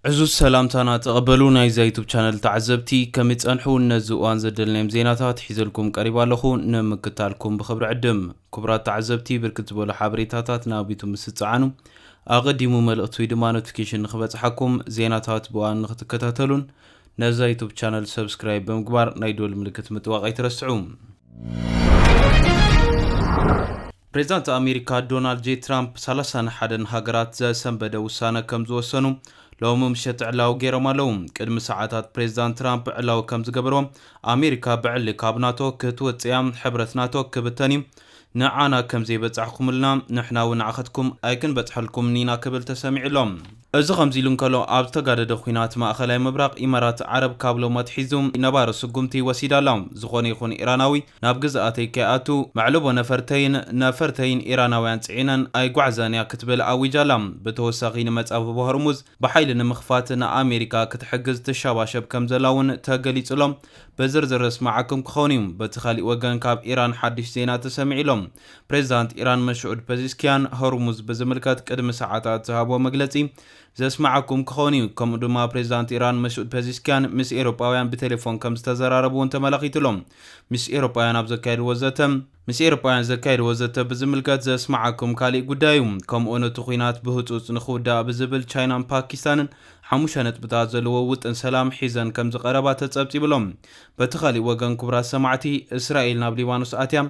ዕዙዝ ሰላምታና ተቐበሉ ናይዛ ዩቱብ ቻነል ተዓዘብቲ ከመይ ጸንሑ ነዚ እዋን ዘደልናዮም ዜናታት ሒዘልኩም ቀሪባ ኣለኹ ንምክታልኩም ብክብሪ ዕድም ክቡራት ተዓዘብቲ ብርክት ዝበሉ ሓበሬታታት ናብ ዩቱብ ምስ ትጸዓኑ ኣቐዲሙ መልእኽቲ ወይ ድማ ኖቲፊኬሽን ንኽበጽሓኩም ዜናታት ብእዋን ንኽትከታተሉን ነዛ ዩቱብ ቻነል ሰብስክራይብ ብምግባር ናይ ደወል ምልክት ምጥዋቕ ኣይትረስዑ። ፕሬዚዳንት ኣሜሪካ ዶናልድ ጄ ትራምፕ ሰላሳን ሓደን ሃገራት ዘሰንበደ ውሳነ ከም ዝወሰኑ ሎሚ ምሸት ዕላዊ ገይሮም ኣለዉ። ቅድሚ ሰዓታት ፕሬዚዳንት ትራምፕ ዕላዊ ከም ዝገበርዎ ኣሜሪካ ብዕሊ ካብ ናቶ ክትወፅእያ ሕብረት ናቶ ክብተን እዩ ንዓና ከም ዘይበጻሕኩምልና፣ ንሕና እውን ንዓኸትኩም ኣይክንበጽሐልኩምን ኢና ክብል ተሰሚዑ ኣሎ። እዚ ከምዚ ኢሉ እንከሎ፣ ኣብ ዝተጋደደ ኲናት ማእኸላይ ምብራቕ፣ ኢማራት ዓረብ ካብ ሎሚ ኣትሒዙ ነባሪ ስጉምቲ ወሲዳ ኣላ። ዝኾነ ይኹን ኢራናዊ ናብ ግዝኣተይ ከይኣቱ፣ መዕልቦ ነፈርተይን ነፈርተይን ኢራናውያን ጽዒነን ኣይጓዕዛን እያ ክትብል ኣዊጃ ኣላ። ብተወሳኺ ንመጻብቦ ሆርሙዝ ብሓይሊ ንምኽፋት ንኣሜሪካ ክትሕግዝ ትሸባሸብ ከም ዘላ እውን ተገሊጹ ኣሎ። ብዝርዝር ዘስማዓኩም ክኸውን እዩ። በቲ ካሊእ ወገን ካብ ኢራን ሓድሽ ዜና ተሰሚዑ ኣሎ። ፕሬዚዳንት ኢራን መሱዑድ ፐዚስኪያን ሆርሙዝ ብዝምልከት ቅድሚ ሰዓታት ዝሃብዎ መግለፂ ዘስማዓኩም ክኸውን እዩ። ከምኡ ድማ ፕሬዚዳንት ኢራን መሱድ ፐዚስኪያን ምስ ኤሮጳውያን ብቴሌፎን ከምዝተዘራረቡ እውን ተመላኺቱ ኣሎ። ምስ ኤሮጳውያን ኣብ ዘካየድዎ ዘተ፣ ምስ ኤሮጳውያን ዘካየድዎ ዘተ ብዝምልከት ዘስምዓኩም ካሊእ ጉዳይ እዩ። ከምኡውን እቲ ኹናት ብህጹጽ ንኽውዳእ ብዝብል ቻይናን ፓኪስታንን ሓሙሽተ ነጥብታት ዘለዎ ውጥን ሰላም ሒዘን ከምዝቐረባ ተጸብጺቡ ኣሎ። በቲ ካሊእ ወገን ክቡራት ሰማዕቲ እስራኤል ናብ ሊባኖስ ኣትያ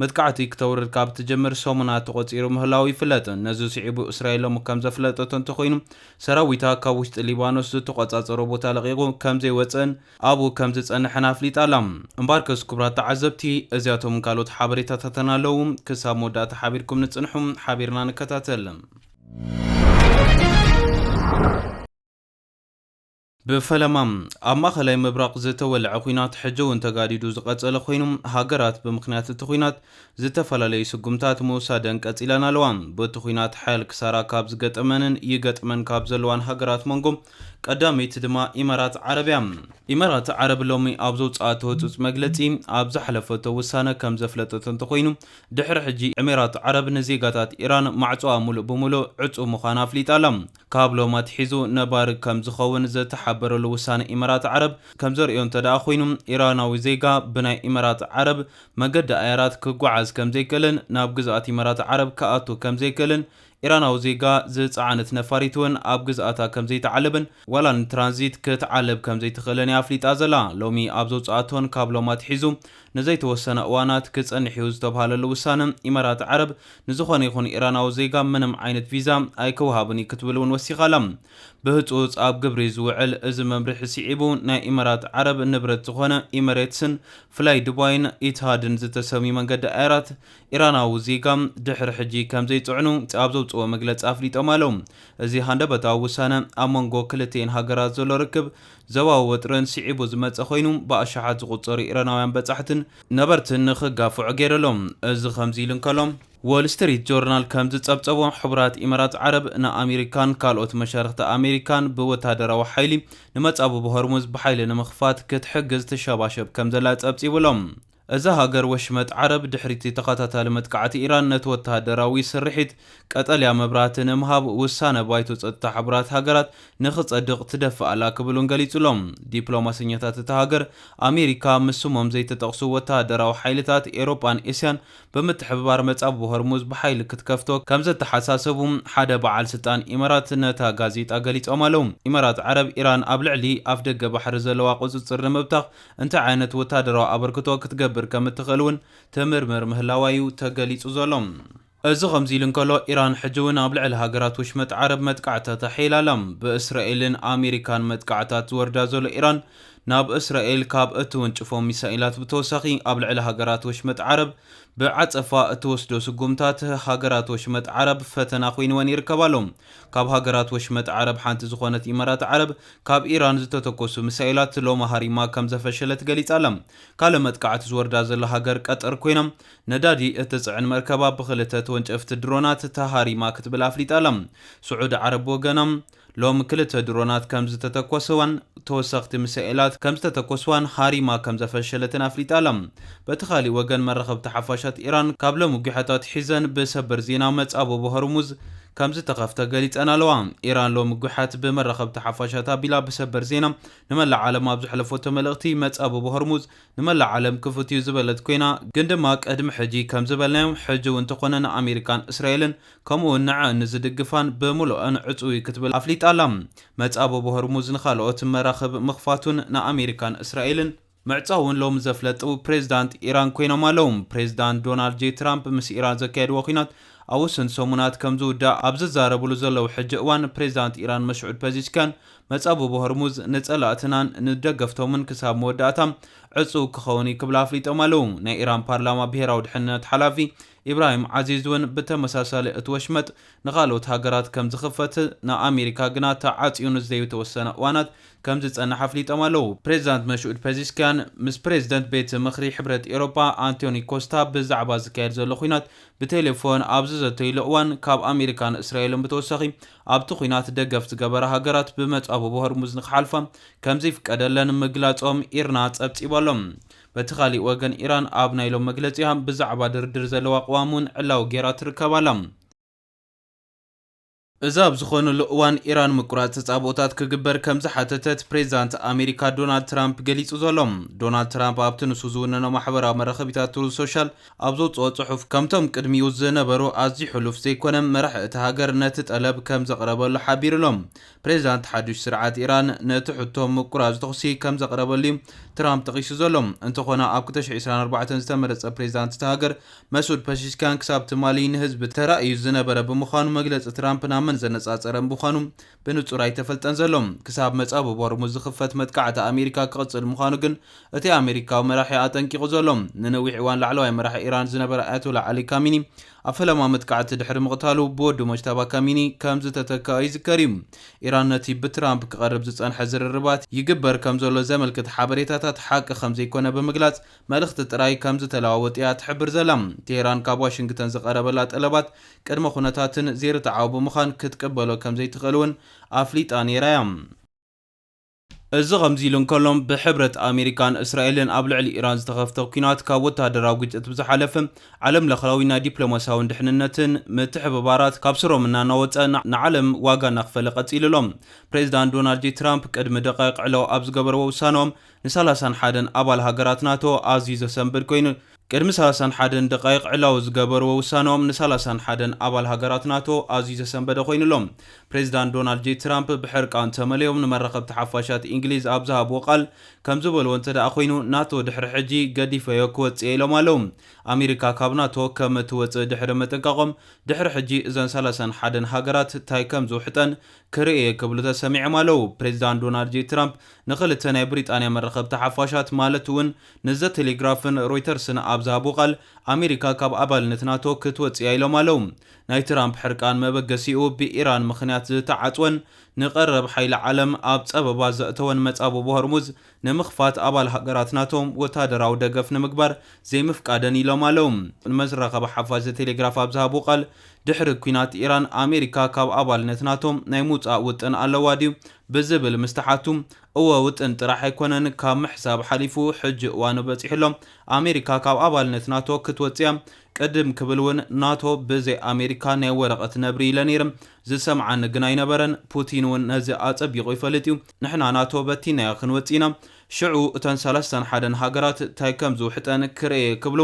መጥቃዕቲ ክተውርድ ካብ እትጅምር ሰሙናት ተቖጺሩ ምህላዉ ይፍለጥ። ነዚ ስዒቡ እስራኤል ሎሚ ከምዘፍለጠቶ እንተኾይኑ ሰራዊታ ካብ ውሽጢ ሊባኖስ ዝተቖጻጸሮ ቦታ ለቒቑ ከምዘይወጽእን ኣብኡ ከም ዝጸንሐን ኣፍሊጣ ኣላ። እምበኣርከስ ክቡራት ተዓዘብቲ፣ እዚኣቶምን ካልኦት ሓበሬታታትን ኣለዉ። ክሳብ መወዳእታ ሓቢርኩምኒ ጽንሑ፣ ሓቢርና ንከታተል። ብፈለማ ኣብ ማእኸላይ ምብራቕ ዝተወልዐ ኹናት ሕጂ እውን ተጋዲዱ ዝቐፀለ ኮይኑ ሃገራት ብምኽንያት እቲ ኹናት ዝተፈላለዩ ስጉምታት ምውሳደን ቀፂለን ኣለዋ። በቲ ኹናት ሓያል ክሳራ ካብ ዝገጠመንን ይገጥመን ካብ ዘለዋን ሃገራት መንጎ ቀዳመይቲ ድማ ኢማራት ዓረብ እያ። ኢማራት ዓረብ ሎሚ ኣብ ዘውጽኣቶ ህጹጽ መግለጺ ኣብ ዝሓለፈቶ ውሳነ ከም ዘፍለጠቶ እንተኾይኑ፣ ድሕሪ ሕጂ ኤሚራት ዓረብ ንዜጋታት ኢራን ማዕጾኣ ምሉእ ብምሉእ ዕጹው ምዃና ኣፍሊጣ ኣላ። ካብ ሎሚ ኣትሒዙ ነባሪ ከም ዝኸውን ዝተሓበረሉ ውሳነ ኢማራት ዓረብ ከም ዘርእዮ እንተድኣ ኮይኑ፣ ኢራናዊ ዜጋ ብናይ ኢማራት ዓረብ መገዲ ኣየራት ክጓዓዝ ከም ዘይክእልን ናብ ግዝኣት ኢማራት ዓረብ ክኣቱ ከም ዘይክእልን ኢራናዊ ዜጋ ዝጸዓነት ነፋሪት እውን ኣብ ግዝኣታ ከም ዘይትዓልብን ዋላ ንትራንዚት ክትዓልብ ከም ዘይትኽእልን እያ ኣፍሊጣ ዘላ። ሎሚ ኣብ ዘውጽኣቶን ካብ ሎም ኣትሒዙ ንዘይተወሰነ እዋናት ክጸንሕ እዩ ዝተብሃለሉ ውሳነ፣ ኢማራት ዓረብ ንዝኾነ ይኹን ኢራናዊ ዜጋ ምንም ዓይነት ቪዛ ኣይክውሃብን እዩ ክትብል እውን ወሲኻ ኣላ። ብህጹጽ ኣብ ግብሪ ዝውዕል እዚ መምርሒ ስዒቡ ናይ ኢማራት ዓረብ ንብረት ዝኾነ ኢመሬትስን ፍላይ ዱባይን ኢትሃድን ዝተሰምዩ መንገዲ ኣየራት ኢራናዊ ዜጋ ድሕሪ ሕጂ ከም ዘይጽዕኑ ኣብ ዘውጽእዎ መግለጺ ኣፍሊጦም ኣለው። እዚ ሃንደበታዊ ውሳነ ኣብ መንጎ ክልቲኤን ሃገራት ዘሎ ርክብ ዞባዊ ወጥርን ስዒቡ ዝመጸ ኮይኑ ብኣሽሓት ዝቑጸሩ ኢራናውያን በጻሕትን ነበርትን ንኽጋፍዑ ገይሩ ኣሎ። እዚ ከምዚ ኢሉ እንከሎ፣ ዎል ስትሪት ጆርናል ከም ዝጸብጸቦ ሕቡራት ኢመራት ዓረብ ንኣሜሪካን ካልኦት መሻርኽቲ ኣሜሪካን ብወተሃደራዊ ሓይሊ ንመጻብቦ ሆርሙዝ ብሓይሊ ንምኽፋት ክትሕግዝ ትሸባሸብ ከም ዘላ ጸብጺቡ ኣሎ። እዛ ሃገር ወሽመጥ ዓረብ ድሕሪ'ቲ ተኸታታሊ መጥቃዕቲ ኢራን ነቲ ወተሃደራዊ ስርሒት ቀጠልያ መብራህቲ ንምሃብ ውሳነ ባይቶ ጸጥታ ሕቡራት ሃገራት ንኽጸድቕ ትደፍእ ኣላ ክብል'ውን ገሊጹ'ሎም ዲፕሎማሰኛታት እታ ሃገር ኣሜሪካ ምስ ስሞም ዘይተጠቕሱ ወተሃደራዊ ሓይልታት ኤሮጳን እስያን ብምትሕብባር መጻብቦ ሆርሙዝ ብሓይሊ ክትከፍቶ ከምዘተሓሳሰቡ ሓደ በዓል ስልጣን ኢማራት ነታ ጋዜጣ ገሊጾም ኣለው። ኢማራት ዓረብ ኢራን ኣብ ልዕሊ ኣፍደገ ባሕሪ ዘለዋ ቁጽጽር ንምብታኽ እንታይ ዓይነት ወታደራዊ ኣበርክቶ ክትገብር ከም እትኽእል እውን ትምርምር ምህላዋ'ዩ ተገሊጹ ዘሎ። እዚ ከምዚ ኢሉ እንከሎ፣ ኢራን ሕጂ'ውን ኣብ ልዕሊ ሃገራት ወሽመጥ ዓረብ መጥቃዕትታት ኣሐይላ ኣላ። ብእስራኤልን ኣሜሪካን መጥቃዕትታት ዝወርዳ ዘሎ ኢራን፣ ናብ እስራኤል ካብ እትውንጭፎም ሚሳኤላት ብተወሳኺ፣ ኣብ ልዕሊ ሃገራት ወሽመጥ ዓረብ ብዓጸፋ እትወስዶ ስጉምታት፣ ሃገራት ወሽመጥ ዓረብ ፈተና ኮይንወን ይርከብ ኣሎ። ካብ ሃገራት ወሽመጥ ዓረብ ሓንቲ ዝኾነት ኢማራት ዓረብ፣ ካብ ኢራን ዝተተኮሱ ምሳኤላት ሎሚ ሃሪማ ከምዘፈሸለት ገሊጻ ኣላ። ካልእ መጥቃዕቲ ዝወርዳ ዘሎ ሃገር ቀጠር ኮይና፣ ነዳዲ እትጽዕን መርከባ ብኽልተ ተወንጨፍቲ ድሮናት ተሃሪማ ክትብል ኣፍሊጣ ኣላ። ስዑዲ ዓረብ ብወገና፣ ሎሚ ክልተ ድሮናት ከምዝተተኮሰዋን ተወሰኽቲ ምሳኤላት ከምዝተተኮስዋን ሃሪማ ከምዘፈሸለትን ኣፍሊጣ ኣላ። በቲ ካልእ ወገን መራኸብቲ ሓፋሻት ኢራን ካብ ሎሚ ጒሐ ኣትሒዘን ብሰበር ዜና መጻብቦ ሆርሙዝ፣ ከምዝተኸፍተ ገሊጸን ኣለዋ። ኢራን ሎሚ ጒሓት ብመራኸብቲ ሓፋሻት ኣቢላ ብሰበር ዜና ንመላእ ዓለም ኣብ ዘሕለፈቶ መልእኽቲ፣ መጻብቦ ሆርሙዝ ንመላእ ዓለም ክፉት'ዩ ዝበለት ኰይና፣ ግን ድማ ቅድሚ ሕጂ ከም ዝበልናዮ ሕጂ'ውን እንተዀነ ንኣመሪካን እስራኤልን ከምኡ'ውን ንዐኣን ንዝድግፋን ብምሉኣን ዕጹው'ዩ ክትብል ኣፍሊጣ'ላ። መጻብቦ ሆርሙዝ ንኻልኦት መራኽብ ምኽፋቱን ንኣመሪካን እስራኤልን፣ ምዕጻው እውን ሎሚ ዘፍለጡ ፕሬዚዳንት ኢራን ኮይኖም ኣለው። ፕሬዚዳንት ዶናልድ ጄይ ትራምፕ ምስ ኢራን ዘካየድዎ ኲናት ኣብ ውሱን ሰሙናት ከምዝውዳእ ኣብ ዝዛረብሉ ዘለው ሕጂ እዋን ፕሬዚዳንት ኢራን መስዑድ ፐዚሽኪያን መጻብቦ ሆርሙዝ ንጸላእትናን ንደገፍቶምን ክሳብ መወዳእታ ዕጹው ክኸውን እዩ ክብላ ኣፍሊጦም ኣለው። ናይ ኢራን ፓርላማ ብሄራዊ ድሕንነት ሓላፊ ኢብራሂም ዓዚዝ እውን ብተመሳሳሊ እቲ ወሽመጥ ንኻልኦት ሃገራት ከምዝኽፈት ንኣሜሪካ ግና ተዓፅዩ ንዘዩተወሰነ እዋናት ከምዝፀንሕ ኣፍሊጦም ኣለው። ፕሬዚዳንት መሹኡድ ፔዚስኪያን ምስ ፕሬዚደንት ቤት ምኽሪ ሕብረት ኤሮፓ ኣንቶኒ ኮስታ ብዛዕባ ዝካየድ ዘሎ ኹናት ብቴሌፎን ኣብ ዝዘተይሉ እዋን ካብ ኣሜሪካን እስራኤልን ብተወሳኺ ኣብቲ ኹናት ደገፍ ዝገበራ ሃገራት ብመፃብቦ ሆርሙዝ ንክሓልፋ ከምዘይፍቀደለን ምግላፆም ኢርና ፀብፂቡ ኣሎ። በቲ ካሊእ ወገን ኢራን ኣብ ናይ ሎም መግለጺኣ ብዛዕባ ድርድር ዘለዋ ቅዋም እውን ዕላዊ ገይራ ትርከብ ኣላ። እዚ ኣብ ዝኾነሉ እዋን ኢራን ምቁራጽ ተጻብኦታት ክግበር ከም ዝሓተተት ፕሬዚዳንት ኣሜሪካ ዶናልድ ትራምፕ ገሊጹ ዘሎ። ዶናልድ ትራምፕ ኣብቲ ንሱ ዝውንኖ ማሕበራዊ መራኸቢታት ትሩዝ ሶሻል ኣብ ዘውጽኦ ጽሑፍ ከምቶም ቅድሚኡ ዝነበሩ ኣዝዩ ሕሉፍ ዘይኮነ መራሒ እታ ሃገር ነቲ ጠለብ ከም ዘቕረበሉ ሓቢሩ'ሎ። ፕሬዚዳንት ሓዱሽ ስርዓት ኢራን ነቲ ሕቶ ምቁራፅ ተኹሲ ከም ዘቕረበሉ እዩ ትራምፕ ጠቒሱ ዘሎ። እንተኾነ ኣብ ክልተ ሽሕ ዕስራን ኣርባዕተን ዝተመረፀ ፕሬዚዳንት እታ ሃገር መሱድ ፐሺሽኪያን ክሳብ ትማሊ ንህዝቢ ተራእዩ ዝነበረ ብምዃኑ መግለፂ ትራምፕ ናብ መን ዘነፃፀረ ምዃኑ ብንፁር ኣይተፈልጠን ዘሎ። ክሳብ መፃብብ ሆርሙዝ ዝኽፈት መጥቃዕቲ ኣሜሪካ ክቕፅል ምዃኑ ግን እቲ ኣሜሪካዊ መራሒ ኣጠንቂቑ ዘሎ። ንነዊሕ እዋን ላዕለዋይ መራሒ ኢራን ዝነበረ ኣያቶላ ዓሊ ካሚኒ ኣብ ፈለማ መጥቃዕቲ ድሕሪ ምቕታሉ ብወዱ ሞጅታባ ካሚኒ ከም ዝተተከኣ ይዝከር እዩ። ኢራን ነቲ ብትራምፕ ክቐርብ ዝጸንሐ ዝርርባት ይግበር ከም ዘሎ ዘመልክት ሓበሬታታት ሓቂ ከም ዘይኮነ ብምግላጽ መልእኽቲ ጥራይ ከም ዝተለዋወጡ እያ ትሕብር ዘላ። ቴህራን ካብ ዋሽንግተን ዝቐረበላ ጠለባት ቅድመ ኩነታትን ዘይርትዓዊ ብምዃን ክትቅበሎ ከም ዘይትኽእል እውን ኣፍሊጣ ነይራ እያ። እዚ ከምዚ ኢሉ እንከሎ፣ ብሕብረት ኣሜሪካን እስራኤልን ኣብ ልዕሊ ኢራን ዝተኸፍተ ኲናት ካብ ወተሃደራዊ ግጭት ብዝሓለፈ ዓለምለኽዊ ናይ ዲፕሎማስያውን ድሕንነትን ምትሕብባራት ካብ ሱሮም እናናወጸ ንዓለም ዋጋ እናኽፈለ ቀጺሉ ኣሎ። ፕሬዚዳንት ዶናልድ ጄ ትራምፕ ቅድሚ ደቃይቕ ዕላዊ ኣብ ዝገበርዎ ውሳነኦም ንሳላሳን ሓደን ኣባል ሃገራት ናቶ ኣዝዩ ዘሰንብድ ኮይኑ ቅድሚ ሰላሳን ሓደን ደቓይቕ ዕላዊ ዝገበርዎ ውሳነኦም ንሳላሳን ሓደን ኣባል ሃገራት ናቶ ኣዝዩ ዘሰንበደ ኮይኑ ኣሎ። ፕሬዚዳንት ዶናልድ ጄ ትራምፕ ብሕርቃን ተመልዮም ንመራኸብቲ ሓፋሻት ኢንግሊዝ ኣብ ዝሃብዎ ቃል ከምዝበልዎ እንተደኣ ኮይኑ ናቶ ድሕሪ ሕጂ ገዲፈዮ ክወጽእየ ኢሎም ኣለው። ኣሜሪካ ካብ ናቶ ከም ትወጽእ ድሕሪ ምጥንቃቖም ድሕሪ ሕጂ እዘን ሳላሳን ሓደን ሃገራት ታይ ከምዝውሕጠን ክርኢ እየ ክብሉ ተሰሚዕም ኣለው። ፕሬዚዳንት ዶናልድ ጄ ትራምፕ ንኽልተ ናይ ብሪጣንያ መራኸብቲ ሓፋሻት ማለት እውን ንዘ ቴሌግራፍን ሮይተርስን ኣብ ዝሃብዎ ቃል፣ ኣሜሪካ ካብ ኣባልነት ናቶ ክትወጽእ'ያ ኢሎም ኣለው። ናይ ትራምፕ ሕርቃን መበገሲኡ ብኢራን ምኽንያት ዝተዓጽወን ንቀረብ ሓይሊ ዓለም ኣብ ጸበባ ዘእተወን መጻብቦ ሆርሙዝ ንምኽፋት ኣባል ሃገራት ናቶ ወተሃደራዊ ደገፍ ንምግባር ዘይምፍቃደን'ዩ ኢሎም ኣለው። ንመራኸቢ ሓፋሽ ዘ ቴሌግራፍ ኣብ ዝሃብዎ ቃል፣ ድሕሪ ኲናት ኢራን ኣሜሪካ ካብ ኣባልነት ናቶ ናይ ምውጻእ ውጥን ኣለዋ ድዩ ብዝብል ምስ ተሓቱ፣ እወ ውጥን ጥራሕ ኣይኮነን ካብ ምሕሳብ ሓሊፉ ሕጂ እዋኑ በጺሑ ኣሎ ኣሜሪካ ካብ ኣባልነት ናቶ ክትወጽእ እያ ቅድም ክብል ውን ናቶ ብዘይ ኣሜሪካ ናይ ወረቀት ነብሪ ኢለ ነይረ ዝሰምዓኒ ግን ኣይነበረን ፑቲን ውን ነዚ ኣጸቢቁ ይፈልጥ እዩ ንሕና ናቶ በቲናዮ ክንወጽእ ኢና ሽዑ እተን ሰላሳን ሓደን ሃገራት ታይ ከም ዝውሕጠን ክርኤ እየ ክብሉ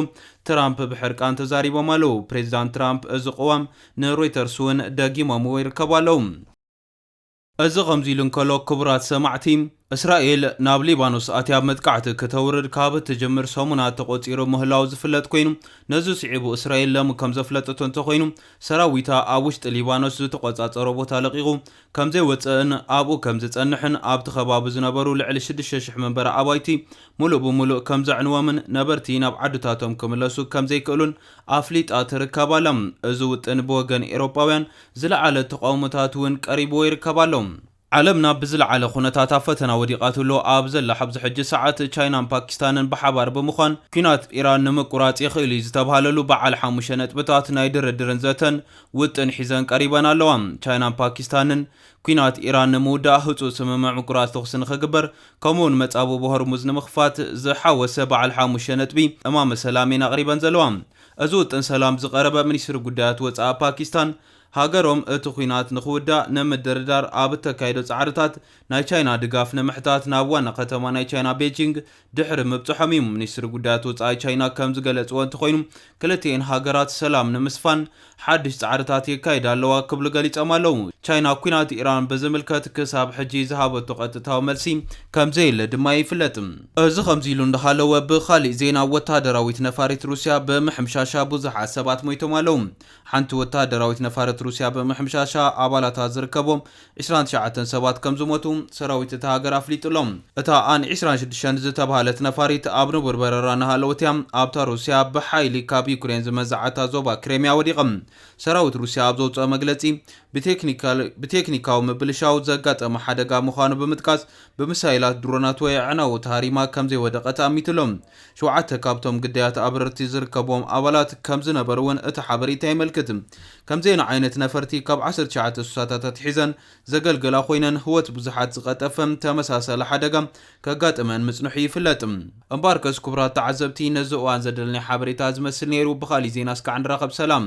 ትራምፕ ብሕርቃን ተዛሪቦም ኣለው ፕሬዝዳንት ትራምፕ እዚ ቅዋም ንሮይተርስ ውን ደጊሞምዎ ይርከቡ ኣለው። እዚ ከምዚ ኢሉ እንከሎ ክቡራት ሰማዕቲ፣ እስራኤል ናብ ሊባኖስ ኣትያ መጥቃዕቲ ክተውርድ ካብ እትጅምር ሰሙናት ተቖጺሩ ምህላዉ ዝፍለጥ ኮይኑ፣ ነዚ ስዒቡ እስራኤል ለሚ ከም ዘፍለጠቶ እንተኾይኑ ሰራዊታ ኣብ ውሽጢ ሊባኖስ ዝተቖጻጸሮ ቦታ ለቒቑ ከምዘይወጸእን ኣብኡ ከምዝጸንሕን ኣብቲ ከባቢ ዝነበሩ ልዕሊ ሽዱሽተ ሽሕ መንበሪ ኣባይቲ ሙሉእ ብሙሉእ ከምዘዕንዎምን ነበርቲ ናብ ዓድታቶም ክምለሱ ከምዘይክእሉን ኣፍሊጣ ትርከብ ኣላ። እዚ ውጥን ብወገን ኤሮጳውያን ዝለዓለ ተቓውሞታት እውን ቀሪብዎ ይርከብ ኣሎ። ዓለም ናብ ብዝለዓለ ኩነታት ኣብ ፈተና ወዲቓትሎ ኣብ ዘላ ሐብዚ ሕጂ ሰዓት፣ ቻይናን ፓኪስታንን ብሓባር ብምዃን ኲናት ኢራን ንምቁራጽ ይኽእል እዩ ዝተብሃለሉ በዓል ሓሙሽተ ነጥብታት ናይ ድርድርን ዘተን ውጥን ሒዘን ቀሪበን ኣለዋ። ቻይናን ፓኪስታንን ኲናት ኢራን ንምውዳእ ህጹጽ ስምምዕ ምቁራጽ ተኹሲ ንኽግበር ከምኡ'ውን መጻብቦ ሆርሙዝ ንምኽፋት ዝሓወሰ በዓል ሓሙሽተ ነጥቢ እማመ ሰላም እየን ኣቕሪበን ዘለዋ። እዚ ውጥን ሰላም ዝቐረበ ሚኒስትሪ ጉዳያት ወጻኢ ፓኪስታን፣ ሃገሮም እቲ ኲናት ንኽውዳእ ንምድርዳር ኣብ እተካይዶ ጻዕርታት ናይ ቻይና ድጋፍ ንምሕታት ናብ ዋና ከተማ ናይ ቻይና ቤጂንግ ድሕሪ ምብጽሖም እዩ። ሚኒስትሪ ጉዳያት ወጻኢ ቻይና ከም ዝገለጽዎ እንተኾይኑ ክልቲኤን ሃገራት ሰላም ንምስፋን ሓድሽ ጻዕርታት የካይድ ኣለዋ ክብሉ ገሊጾም ኣለዉ። ቻይና ኲናት ኢራን ብዝምልከት ክሳብ ሕጂ ዝሃበቶ ቀጥታዊ መልሲ ከምዘየለ ድማ ይፍለጥ። እዚ ከምዚ'ሉ እንዳሃለወ ብኻሊእ ዜና ወተሃደራዊት ነፋሪት ሩስያ ብምሕምሻሻ ብዙሓት ሰባት ሞይቶም ኣለዉ። ሓንቲ ወተሃደራዊት ነፋረት ሩስያ ብምሕምሻሻ ኣባላታ ዝርከቦም ዕስራን ትሽዓተን ሰባት ከምዝሞቱ ሰራዊት እታ ሃገር ኣፍሊጡ ኣሎ። እታ ኣን ዕስራን ሽዱሽተን ዝተብሃለት ነፋሪት ኣብ ንቡር በረራ እናሃለወት እያ ኣብታ ሩስያ ብሓይሊ ካብ ዩክሬን ዝመንዘዓታ ዞባ ክሬምያ ወዲቓ። ሰራዊት ሩስያ ኣብ ዘውጽኦ መግለጺ፣ ብቴክኒካዊ ምብልሻው ዘጋጠመ ሓደጋ ምዃኑ ብምጥቃስ፣ ብሚሳይላት፣ ድሮናት ወይ ኣዕናዊ ተሃሪማ ከምዘይወደቐት ኣሚቱ ኣሎ። ሸውዓተ ካብቶም ግዳያት ኣብረርቲ ዝርከብዎም ኣባላት ከምዝነበሩ'ውን እቲ ሓበሬታ የመልክት። ከም ዜና ዓይነት ነፈርቲ ካብ ዓሰርተ ትሽዓተ ሱሳታት ኣትሒዘን ዘገልግላ ኮይነን ህወት ብዙሓት ዝቐጠፈ ተመሳሳሊ ሓደጋ ከጋጥመን ምጽንሑ ይፍለጥ። እምበኣርከስ ክቡራት ተዓዘብቲ ነዚ እዋን ዘደለናዮ ሓበሬታ ዝመስል ነይሩ። ብኻሊእ ዜና እስካዕ ንራኸብ ሰላም።